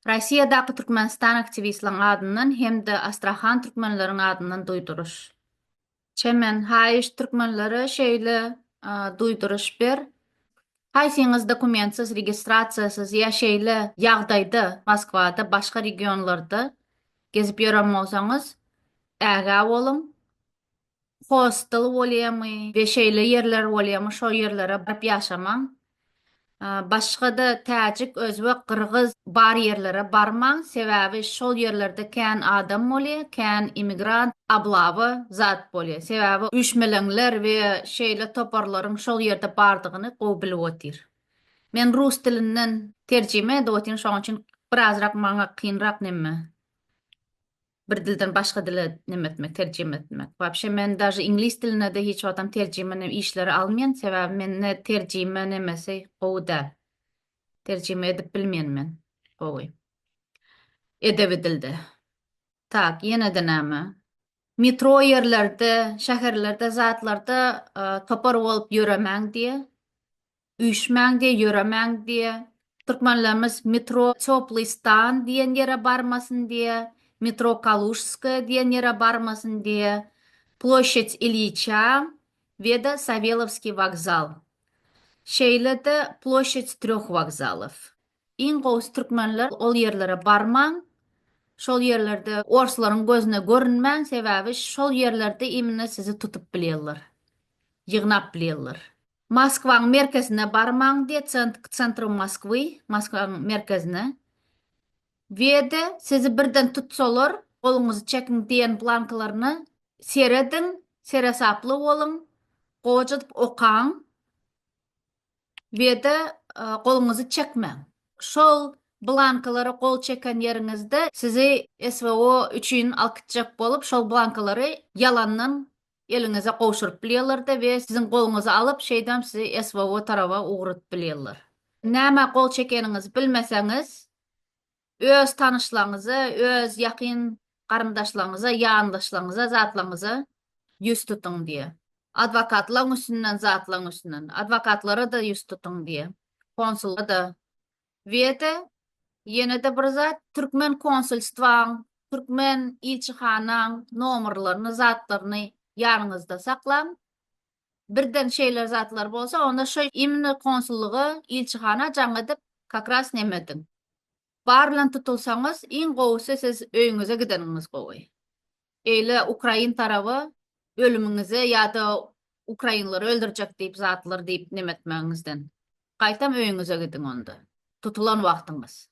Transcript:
Rossiýadaky Türkmenistan aktiwistleriň adyndan hem-de Astrahan türkmenleriň adyndan duýduryş. Çemen, haýyş türkmenlere şeýle duýduryş ber, Haýsyňyz dokumentsiz, registrasiýasyz ýa şeýle ýagdaýda Moskwada, başga regionlarda gezip ýören bolsaňyz, ägä boluň. hostel bolýamy we şeýle ýerler bolýamy şo ýerlere baryp ýaşamaň. Başgada täjik, özbek, gyrgyz bar ýerlere barmaň sebäbi şol ýerlerde kän adam bolýa, kän immigrant, ablawa zat bolýa. Sebäbi üýşmeleňler we şeýle toparlaryň şol ýerde bardygyny gowy bilip otyr. Men rus dilinden terjime edip otyryn şoň üçin birazrak maňa kynrak nemme. bir dilden başga dile neme etmek terjime etmek wapşe men daže iňlis dilinede hiç wagtam terjime ne işleri almyan sebäbi mende terjime nemesi gowy däl terjime edip bilmyan men gowy edebi dilde tak ýenede name metro ýerlerde şäherlerde zatlarda topar bolup ýöremäň diýe Üýşmäň diýe ýöremäň diýe. Türkmenlerimiz metro Tёplý stan diýen ýere barmasyn diýe, metro Kalužskoýa diýen ýere barmasyn diýe, Ploşçad Ilýiçä we-de Sawelowskiý wokzal. Şeýle-de Ploşçad trýoh wokzalow. Iň gowusy türkmenler ol ýerlere barmaň, şol ýerlerde orslaryň gözüne görünmäň, sebäbi şol ýerlerde imine sizi tutup bilýärler, ýygnap bilýärler. Moskwanyň merkezine barmaň diýe cent k centru Moskwy, Moskwanyň merkezine. Wede, sizi birden tutsalar, goluňyzy çekiň diýen blankalaryna serediň, seresaply boluň, gojadyp okaň. Wede, goluňyzy çekmäň. Şol blankalara gol çeken ýeriňizde sizi SVO üçin alkytjak bolup, şol blankalary ýalandan eliňize gowşuryp bilýärler-de we siziň goluňyzy alyp, şeýdibem sizi SVO taraba ugradyp bilýärler. Nämä gol çekeniňizi bilmeseňiz, öz tanyşlaryňyza, öz ýakyn garyndaşlaryňyza, ýandaşlaryňyza, zatlaryňyza ýüz tutuň diýýär. Adwokatlaryň üstünden, zatlaryň üstünden. Adwokatlara-da ýüz tutuň diýýär. Konsula-da, Weta, ýene-de bir zat, türkmen konsulstwaň, türkmen ilçihanaň nomerlerini, zatlaryny ýanyňyzda saklaň. Birden şeýle zatlar bolsa, onda şo imni konsullyga, ilçihana jaň edip, kak ras neme ediň. Bar bilen tutulsaňyz, iň gowusy siz öýüňize gideniňiz gowy. Eýle ukrain taraba ölümiňize ýa-da ukrainleri öldürjek diýip zatlar diýip nemetmegiňizden, gaýtam öýüňize gidiň onda, tutulan wagtyňyz.